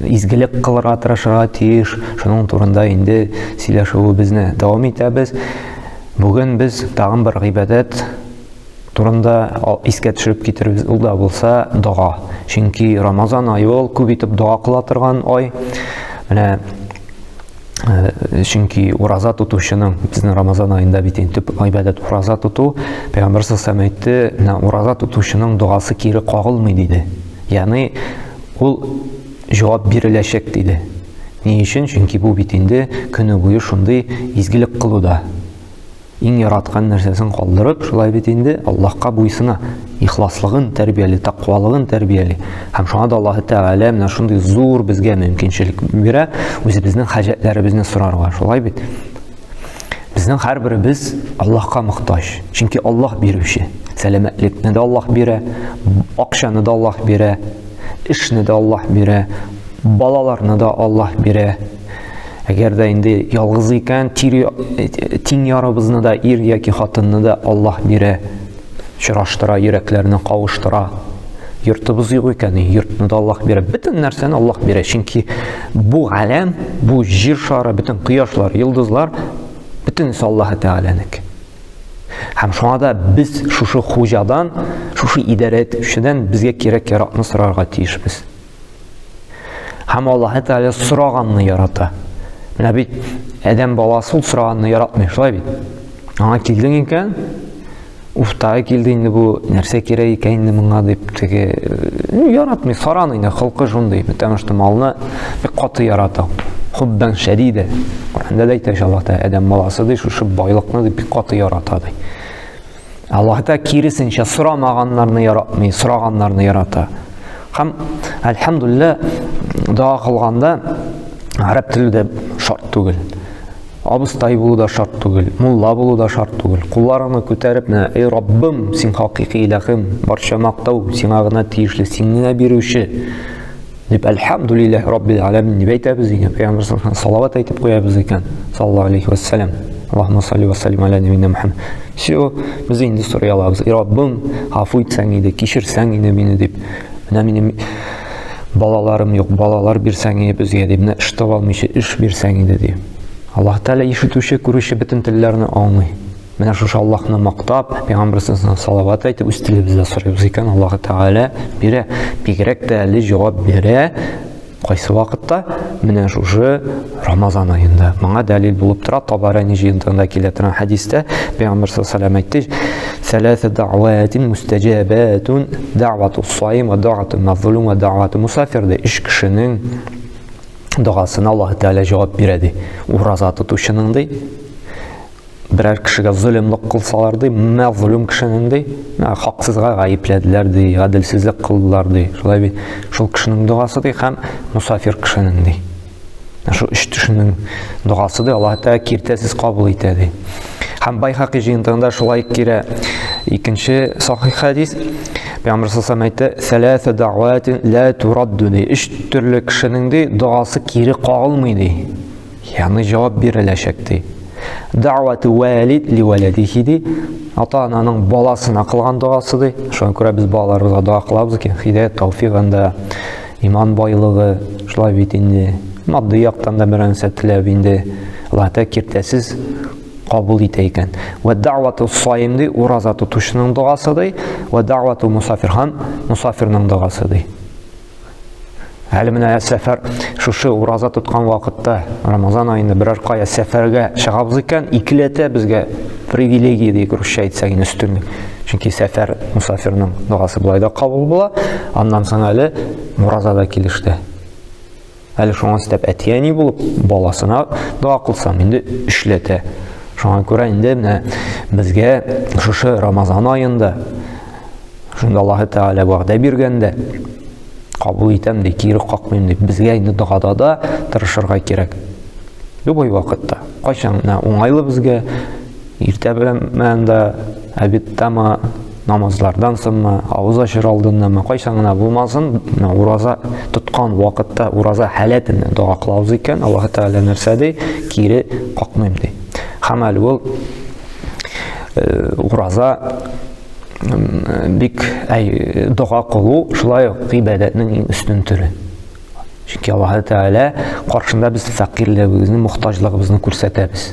изгелек кылырга тырышырга тиеш. Шуның турында инде сөйләшүебезне дәвам итәбез. Бүген без тагын бер гыйбадәт турында искә төшереп китербез. Ул да булса дога. Чөнки Рамазан ае ул күп итеп дога кыла торган ай. Менә Э, чөнки ураза тотучының безнең рамазан айында бит инде төп гыйбадәт ураза тоту пәйгамбәр сәлләм әйтте менә ураза тотучының догасы кире кагылмый диде ягъни ул җавап биреләчәк диде ни өчен чөнки бу бит инде көне буе шундый изгелек кылуда Иң яраткан нәрсәсен калдырып, шулай бит инде, Аллаһка буйсына, ихласлыгын тәрбияли, тәкъвалыгын тәрбияли. Һәм шуңа да Аллаһ Тәгалә менә шундый зур безгә мөмкинчелек бирә, үзебезнең хаҗәтләребезне сорарга. Шулай бит? Безнең һәрберебез Аллаһка мохтаҗ. Чөнки Аллаһ бирүче. Сәламәтлекне дә Аллаһ бирә, акчаны да Аллаһ бирә, эшне дә Аллаһ бирә, балаларны да Аллаһ бирә. Әгәр дә инде ялгыз икән, тире тиң ярыбызны да ир яки хатынны да Аллаһ бирә, чораштыра, йөрәкләрне кавыштыра. Йортыбыз юк икән, йортны да Аллаһ бирә. Бөтен нәрсәне Аллаһ бирә, чөнки бу галәм, бу җир шары, бөтен кояшлар, йолдызлар бөтенесе Аллаһ Тәгаләнеке. Һәм шуңа да без шушы хуҗадан, шушы идарә итүчедән безгә кирәк-яракны сорарга тиешбез. Һәм Аллаһ Тәгалә сораганны ярата. Менә бит Адәм баласы ул сораганны яратмый, шулай бит. Аңа килдең икән, уфтагы килде инде бу, нәрсә кирәк икән инде моңа дип теге, ну, яратмый, саран инде, холкы шундый, потому что малны бик каты ярата. Хуббан шәдидә. Коранда да әйтә Аллаһ Тәгалә Адәм баласы ди, шушы байлыкны дип бик каты ярата ди. Аллаһ та киресенчә сорамаганнарны яратмый, сораганнарны ярата. Һәм әлхәмдулилла дога кылганда гарәп теле дә шарт түгел. Абыстай булу да шарт түгел, мулла булу да шарт түгел. Кулларыңны күтәреп, менә, эй Раббым, син хакыйкый иләхим, барча мактау сиңа гына тиешле, син генә бирүче. Дип, әлхәмдүлилләһ раббил аләмин дип әйтәбез икән, пәйгамбер саллаллаху салават әйтеп куябыз икән, саллаллаху алейхи вассалам. Аллаһумма салли ва саллим аля набина Мухаммад. Все, без инде сорый алабыз. И Раббым, гафу итсәң иде, кичерсәң иде мине дип. Менә минем балаларым юк, балалар бирсәң иде безгә дип, менә эш таба алмыйча эш бирсәң иде дип. Аллаһ Тәгалә ишетүче, күрүче бөтен телләрне аңлый. Менә шушы Аллаһны мактап, Пәйгамбәрсенә салават әйтеп үз телебездә сорыйбыз икән, Аллаһ Тәгалә бирә. Бигрәк тә әле җавап бирә. Кайсы вакытта? Менә шушы Рамазан аенда. Моңа дәлил булып тора Табарани җыентыгында килә торган хәдистә Пәйгамбәр саллаллаһу әйтте: "Сәләсә дәгъватин мустәҗабатун дәгъвату саим ва дәгъвату мазлум ва дәгъвату мусафир" ди. Үч кешенең догасына Аллаһ Тәгалә җавап бирә ди. Ураза тотучының ди, берәр кешегә золымлык кылсалар ди, мәзлум кешенең ди, хаксызга гаепләделәр ди, гаделсезлек кылдылар ди. Шулай бит, шул кешенең догасы ди һәм мусафир кешенең ди. Шул өч кешенең догасы ди, Аллаһ Тәгалә киртәсез кабул итә ди. Һәм Байхакый җыентыгында шулай кирә. Икенче сахих хәдис Пәйгамбер сасам әйтә, «Сәләсә дәгъватин лә турадду» ди. Өч төрле кешенең ди, догасы кире кагылмый ди. Яны җавап биреләчәк ди. Дәгъвәтү вәлид ли вәләдихи ди. Ата-ананың баласына кылган догасы ди. Шуңа күрә без балаларыбызга дога кылабыз икән, хидәят тауфигында, иман байлыгы, шулай бит инде. Матди яктан да берәр нәрсә теләп инде. Алла тә киртәсез кабул итә икән. Вә дәгъвәтү саим ди, ураза тотучының догасы ди. Вә дәгъвәтү мусафир һәм мусафирның догасы ди. Әле менә сәфәр шушы ураза тоткан вакытта Рамазан айында берәр кая сәфәргә чыгабыз икән, икеләтә безгә привилегия дип русча әйтсәк инде өстенлек. Чөнки сәфәр мусафирның догасы болай да кабул була. Аннан соң әле ураза да килеште. Әле шуңа өстәп әти-әни булып, баласына дога кылсам, инде эшләтә. Шуңа күрә инде менә безгә шушы Рамазан аенда шунда Аллаһы Тәгалә вәгъдә биргәндә кабул итәм ди, кире какмыйм ди. Безгә инде догада да тырышырга кирәк. Любой вакытта. Кайчан уңайлы безгә, Иртә белән мәнда әбиттама намазлардан соңмы, авыз ашыр алдыннамы, кайчан гына булмасын, ураза тоткан вакытта ураза халәтен дога кылабыз икән, Аллаһ Тәгалә нәрсә ди? Кире какмыйм ди. Һәм әле ул э, ураза бик әй дога кылу шулай ук ибадәтнең иң өстен төре. Чөнки Аллаһ Тәгалә каршында без фәкыйрьлегебезне, мохтаҗлыгыбызны күрсәтәбез.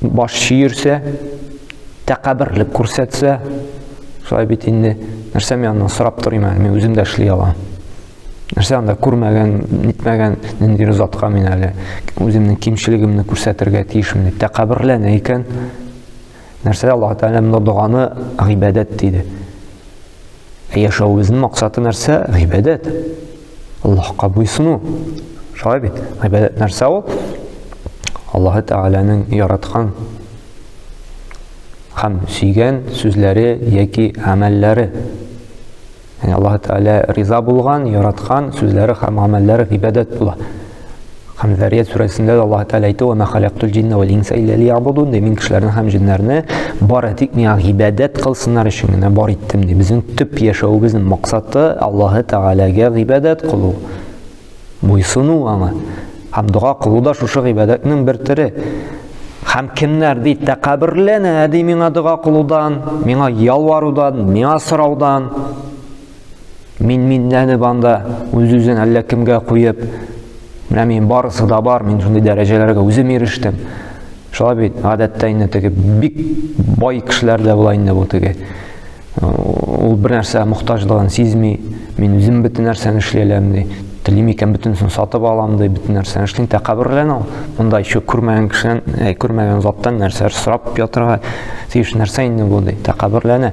баш чөерсә, тәкәберлек күрсәтсә, шулай бит инде, нәрсә мин аннан сорап торыйм әле, мин үзем дә эшли алам. Нәрсә анда күрмәгән, нитмәгән нинди затка мин әле үземнең кимчелегемне күрсәтергә тиешмен дип тәкәберләнә икән. Нәрсә Аллаһ Тәгалә монда доганы гыйбадәт диде. Ә яшәвебезнең максаты нәрсә? Гыйбадәт. Аллаһка буйсыну. Шулай бит? Гыйбадәт нәрсә ул? Аллаһы Тәгаләнең яраткан һәм сөйгән сүзләре яки гамәлләре. Яни Аллаһы Тәгалә риза булган, яраткан сүзләре һәм гамәлләре гыйбадәт була. Һәм Зария сүрәсендә дә Аллаһ Тәгалә әйтә, "Ва ма халактул җинна вал инса илля лиябудун", ди, мин кешеләрне һәм җиннәрне бары тик миңа гыйбадәт кылсыннар өчен генә бар иттем, ди. Безнең төп яшәвебезнең максаты Аллаһ Тәгаләгә гыйбадәт кылу, буйсыну аңа. Һәм дога кылу да шушы гыйбадәтнең бер төре. Һәм кемнәр ди тәкәбберләнә ди миңа дога кылудан, миңа ялварудан, миңа сораудан, Мин миннәнеп анда үз-үзен әллә кемгә куеп, менә мин барысы да бар, мин шундый дәрәҗәләргә үзем ирештем. Шулай бит, гадәттә инде теге бик бай кешеләр дә була инде бу теге. Ул бер нәрсә мохтаҗлыгын сизми, мин үзем бөтен нәрсәне эшли алам ди. Телим икән бөтенесен сатып алам ди, бөтен нәрсәне эшлим. Тәкәбберләнә ул. Монда еще күрмәгән кешедән, э, күрмәгән заттан нәрсәләр сорап ятырга тиеш нәрсә инде бу ди. Тәкәбберләнә.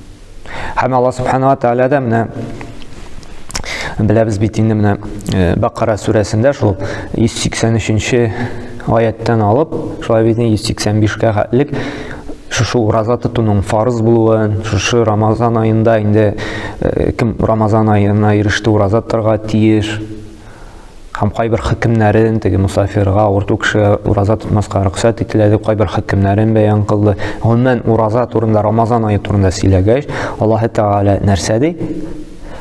Һәм Аллаһ Субхану ва Тааля да менә беләбез бит инде менә э, Бакара сүрәсендә шул 183-нче аяттан алып, шулай бит 185-кә хәтлек шушы ураза тотуның фарыз булуын, шушы Рамазан аенда инде э, кем Рамазан аена иреште ураза торга тиеш, һәм кайбер хөкемнәрен, теге мусафирга, авырту кешегә ураза тотмаска рөхсәт ителә дип кайбер хөкемнәрен бәян кылды. Гомумән ураза турында, Рамазан ае турында сөйләгәч, Аллаһ Тәгалә нәрсә ди?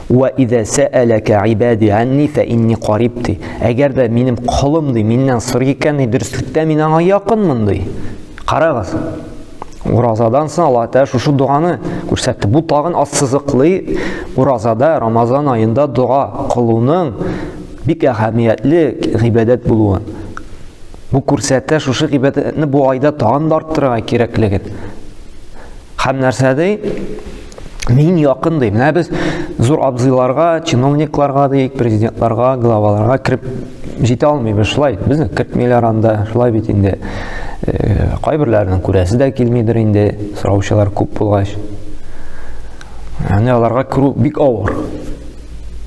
Ва иза саалака ибади анни фа инни кариб ди. Әгәр дә минем колым ди, миннән сорый икән, дөреслектә мин аңа якынмын ди. Карагыз. Уразадан соң Аллаһ Тәгалә шушы доганы күрсәтте. Бу тагын ассызыклый уразада, Рамазан аенда дога кылуның бик әһәмиятле гыйбадәт булуын. Бу күрсәтә шушы гыйбадәтне бу айда тагын да арттырырга кирәклеген. Һәм нәрсә ди? Мин якын ди. Менә без зур абзыйларга, чиновникларга дик, президентларга, главаларга кирип җитә алмыйбыз шулай. Безне кертмиләр анда, шулай бит инде. Э, кайберләрнең күрәсе дә килмидер инде, сораучылар күп булгач. Яни аларга керү бик авыр.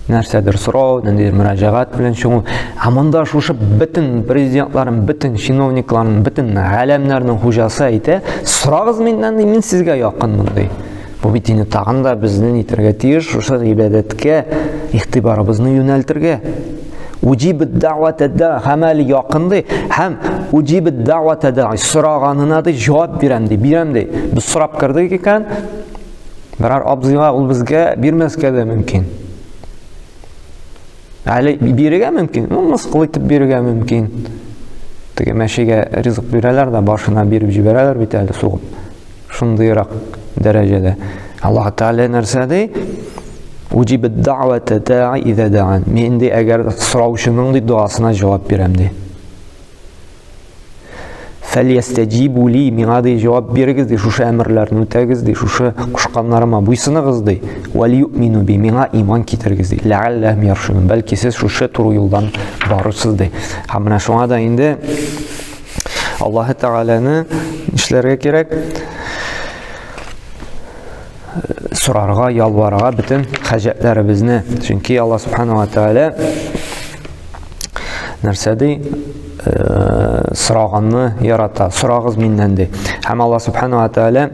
нәрсәдер сорау, ниндидер мөрәҗәгать белән чыгу. Ә монда шушы бөтен президентларын, бөтен чиновникларын, бөтен галәмнәрнең хуҗасы әйтә, сорагыз миннән, мин сезгә якын мондый. Бу бит инде тагын да безне нитәргә тиеш, шушы гыйбадәткә игътибарыбызны юнәлтергә. Уҗиб дәватәдә гамәл якынды һәм уҗиб дәватәдә сораганына да җавап бирәм ди, бирәм ди. Без сорап кердек икән, Берәр абзыйга ул безгә бирмәскә дә мөмкин. Әле бирергә мөмкин, ну, мыскыл итеп бирергә мөмкин. Теге мәшигә ризык бирәләр дә, башына биреп җибәрәләр бит әле сугып. Шундыйрак дәрәҗәдә. Аллаһ Тәгалә нәрсә ди? Уҗиб даъвата даи иза даан. Мин ди, әгәр сораучының ди дуасына җавап бирәм ди. фәлиястәҗибу ли миңа ди җавап бирегез ди шушы әмерләрне үтәгез ди шушы кушканнарыма буйсыныгыз ди вәлиюмину би миңа иман китерегез ди ләалләһм яршунун бәлки сез шушы туры юлдан барырсыз ди һәм менә шуңа да инде аллаһы тәгаләне нишләргә кирәк сорарга, ялварга бөтен хаҗәтләребезне. Чөнки Алла субханала тәгалә нәрсә ди? Э, сораганны ярата. Сорагыз миннән ди. Һәм Алла субханала тәгалә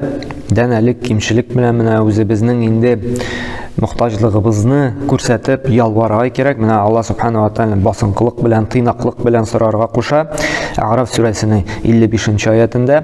дән әлек кимчелек белән менә үзебезнең инде мохтаҗлыгыбызны күрсәтеп ялварга кирәк. Менә Алла субханала тәгалә басынкылык белән, тыйнаклык белән сорарга куша. Араф сүрәсенең 55 нче аятында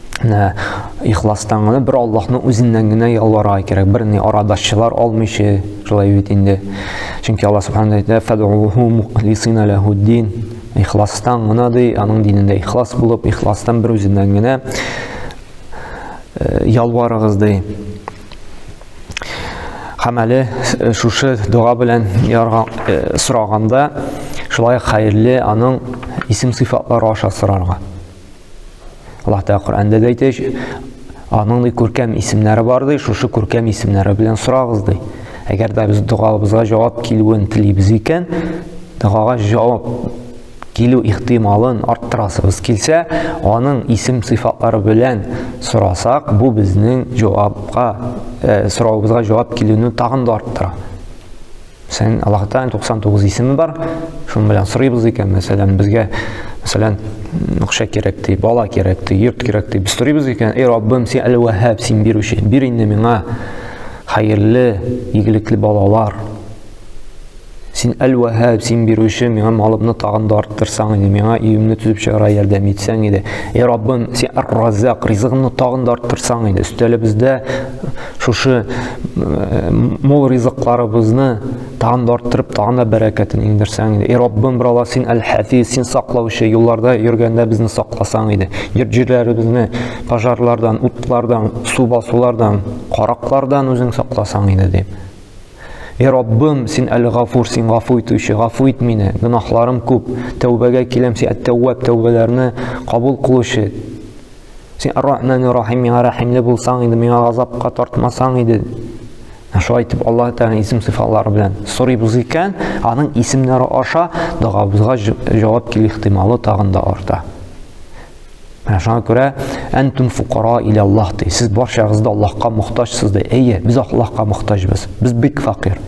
Ә, ихластан гына бер Аллаһның үзеннән генә ялварга кирәк. Бер ни арадашчылар алмыйчы, шулай бит инде. Чөнки Аллаһ Субхану әйтә, "Фадуху мухлисина лаху дин". Ихластан гына ди, аның динендә ихлас булып, ихластан бер үзеннән генә э, ялварыгыз ди. Һәм әле э, шушы дога белән ярга э, сораганда, шулай хәерле аның исем сыйфатлары аша сорарга. Аллаһ Тәгалә Коръәндә дә әйтә, аның ди күркәм исемнәре бар ди, шушы күркәм исемнәре белән сорагыз ди. Әгәр дә без догабызга җавап килүен телибез икән, догага җавап килү ихтималын арттырасыбыз килсә, аның исем сыйфатлары белән сорасак, бу безнең җавапка, э, соравыбызга җавап килүне тагын да арттыра. Сән Аллаһ Тәгаләнең 99 исеме бар. Шуның белән сорыйбыз икән, мәсәлән, безгә мәсәлән, акча кирәк ди, бала кирәк ди, йорт кирәк ди. Без сорыйбыз икән, "Эй Раббым, син Әл-Ваһһаб, син бирүче, бир инде миңа хәерле, игелекле балалар. Син Әл-Ваһһаб, син бирүче, миңа малымны тагын да арттырсаң иде, миңа өемне төзеп чыгарга ярдәм итсәң иде. Эй Раббым, син Ар-Раззак, ризыгымны тагын да арттырсаң иде. Өстәлебездә шушы э, мул ризыкларыбызны тагын да арттырып тагын да бәрәкәтен иңдерсәң иде эй раббым бер алла син әл хәфиз син саклаучы юлларда йөргәндә безне сакласаң иде йорт җирләребезне пожарлардан утлардан су басулардан караклардан үзең сакласаң иде дип Эй Раббым, син әле гафур, син гафу итүче, гафу ит мине, гөнаһларым күп, тәүбәгә киләм, син әт-тәүвәб, тәүбәләрне кабул кылучы, Син Ар-Рахман Ар-Рахим миңа рәхимле булсаң иде, миңа газапка тартмасаң иде. Шулай итеп Аллаһ Тәгалә исем сыйфатлары белән сорыйбыз икән, аның исемнәре аша догабызга җавап килү ихтималы тагын да арта. Менә шуңа күрә әнтүм фукара илә Аллаһ ди. Сез барчагыз да Аллаһка мохтаҗсыз ди. Әйе, без Аллаһка мохтаҗбыз. Без бик факир.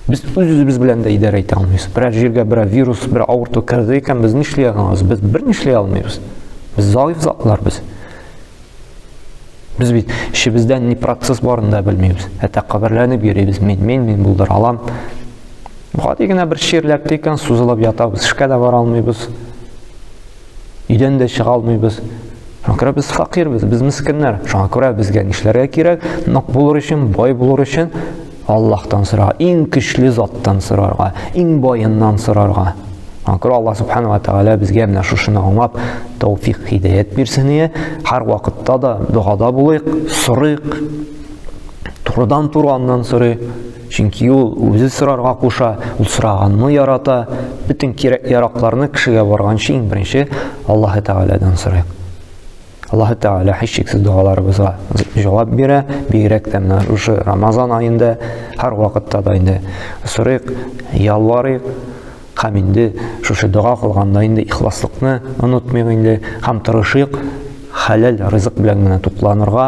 Без үз-үзебез белән дә идарә итә алмыйбыз. Берәр җиргә берәр вирус, берәр авырту керде икән, без нишли алабыз? Без бер нишләй алмыйбыз. Без заиф затлар без. Без бит эчебездә ни процесс барын да белмибез. Әтә каберләнеп йөрибез. Мин, мин, мин булдыр алам. Гади генә бер чирләп тикән сузылып ятабыз. Эшкә дә бара алмыйбыз. Өйдән дә чыга алмыйбыз. Шуңа күрә без факирбез, без мескеннәр. Шуңа күрә безгә нишләргә кирәк? Нык булыр өчен, бай булыр өчен Аллаһтан сорарга, иң көчле заттан сорарга, иң байыннан сорарга. Шуңа күрә Аллаһ субхана ва тәгалә безгә менә шушыны аңлап тәүфик хидәят бирсен ие. Һәр вакытта да догада булыйк, сорыйк. Турыдан-туры аннан сорыйк. Чөнки ул үзе сорарга куша, ул сораганны ярата. Бөтен кирәк-яракларны кешегә барганчы иң беренче Аллаһы Тәгаләдән сорыйк. Аллаһы Тәгалә һичшиксез догаларыбызга җавап бирә, бигрәк тә менә шушы Рамазан аенда һәр вакытта да инде сорыйк, ялварыйк, һәм инде шушы дога кылганда инде ихласлыкны онытмыйк инде һәм тырышыйк хәләл ризык белән генә тукланырга,